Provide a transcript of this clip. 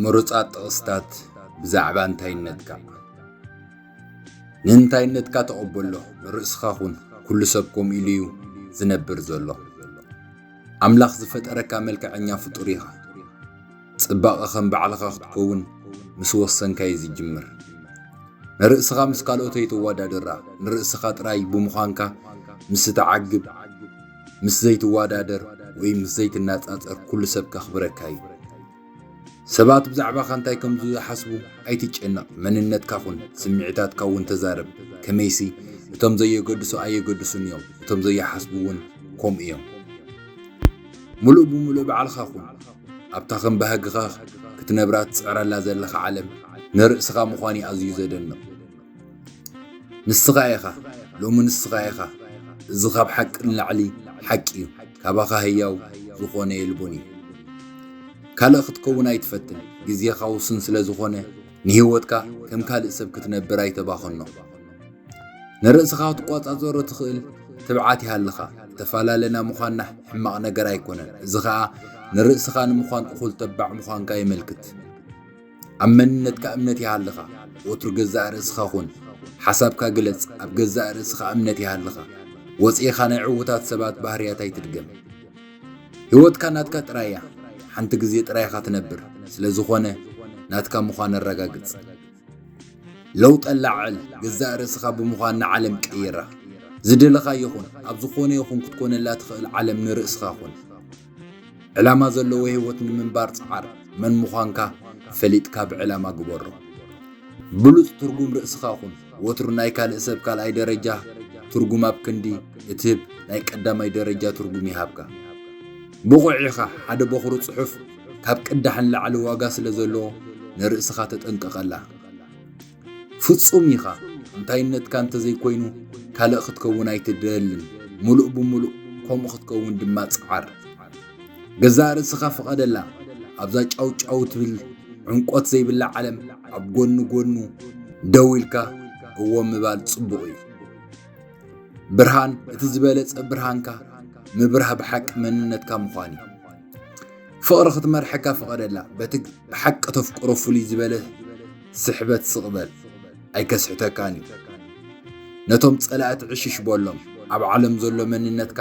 ምሩጻት ጥቕስታት ብዛዕባ እንታይነትካ ንእንታይነትካ ተቐበሎ ንርእስኻ ኹን ኩሉ ሰብ ከምኡ ኢሉ እዩ ዝነብር ዘሎ ኣምላኽ ዝፈጠረካ መልክዐኛ ፍጡር ኢኻ ጽባቐ ከም ባዕልኻ ክትከውን ምስ ወሰንካ እዩ ዝጅምር። ንርእስኻ ምስ ካልኦት ኣይተወዳድራ፣ ንርእስኻ ጥራይ ብምዃንካ ምስ እትዓግብ፣ ምስ ዘይትወዳደር ወይ ምስ ዘይትነጻጸር ኩሉ ሰብ ከኽብረካ እዩ። ሰባት ብዛዕባኻ እንታይ ከም ዝሓስቡ ኣይትጨነቕ፣ መንነትካ ኩን፣ ስምዒታትካ እውን ተዛረብ፣ ከመይሲ እቶም ዘየገድሱ ኣየገድሱን እዮም፣ እቶም ዘይሓስቡ እውን ከምኡ እዮም። ምሉእ ብምሉእ ባዕልኻ ኩን። ኣብታ ከም ባህግኻ ክትነብራ ትጽዕረላ ዘለኻ ዓለም ንርእስኻ ምዃን'ዩ ኣዝዩ ዘደንቕ። ንስኻ ኢኻ፣ ሎሚ ንስኻ ኢኻ፣ እዚ ካብ ሓቂ ንላዕሊ ሓቂ'ዩ፣ ካባኻ ህያው ዝኾነ የልቦን'ዩ። ካልእ ክትከውን ኣይትፈትን፣ ግዜኻ ውሱን ስለ ዝኾነ ንህይወትካ ከም ካልእ ሰብ ክትነብር ኣይተባኽኖ። ንርእስኻ ክትቆጻጸሮ ትኽእል ትብዓት ይሃልኻ። እተፈላለና ምዃንና ሕማቕ ነገር ኣይኮነን፣ እዚ ኸኣ ንርእስኻ ንምዃን እኹል ተባዕ ምዃንካ የመልክት። ኣብ መንነትካ እምነት ይሃልኻ። ወትሩ ገዛእ ርእስኻ ኹን። ሓሳብካ ግለጽ፣ ኣብ ገዛእ ርእስኻ እምነት ይሃልኻ። ወጺኢኻ ናይ ዕዉታት ሰባት ባህርያት ኣይትድገም። ህይወትካ ናትካ ጥራይ እያ። ሓንቲ ግዜ ጥራይ ኢኻ ትነብር፣ ስለ ዝኾነ ናትካ ምዃን ኣረጋግጽ። ለውጠ ላዕል ገዛእ ርእስኻ ብምዃን ንዓለም ቀይራ። ዝደለኻዮ ኹን፣ ኣብ ዝኾነ ይኹን ክትኮነላ ትኽእል ዓለም ንርእስኻ ኹን። ዕላማ ዘለዎ ህይወት ንምንባር ጽዓር፣ መን ምዃንካ ፈሊጥካ ብዕላማ ግበሮ። ብሉጽ ትርጉም ርእስኻ ኹን፣ ወትሩ ናይ ካልእ ሰብ ካልኣይ ደረጃ ትርጉም ኣብ ክንዲ እትህብ ናይ ቀዳማይ ደረጃ ትርጉም ይሃብካ። ብቑዕ ኢኻ፣ ሓደ በኹሪ ጽሑፍ፣ ካብ ቅዳሕ ንላዕሊ ዋጋ ስለ ዘለዎ ንርእስኻ ተጠንቀቐላ። ፍጹም ኢኻ፣ እንታይነትካ እንተ ዘይኮይኑ ካልእ ክትከውን ኣይትደልን፣ ምሉእ ብምሉእ ከምኡ ክትከውን ድማ ጽዓር። ገዛእ ርእስኻ ፍቐደላ፣ ኣብዛ ጫውጫው ትብል ዕምቈት ዘይብላ ዓለም ኣብ ጎኒ ጎኑ ደው ኢልካ እዎ ምባል ጽቡቕ እዩ። ብርሃን እቲ ዝበለጸ ብርሃንካ ምብራህ ብሓቂ መንነትካ ምዃን እዩ ፍቕሪ ክትመርሐካ ፍቐደላ በቲ ብሓቂ ተፍቅሮ ፍሉይ ዝበለ ስሕበት ስቕበል ኣይከስሕተካን እዩ ነቶም ጸላእቲ ዕሽሽ በሎም ኣብ ዓለም ዘሎ መንነትካ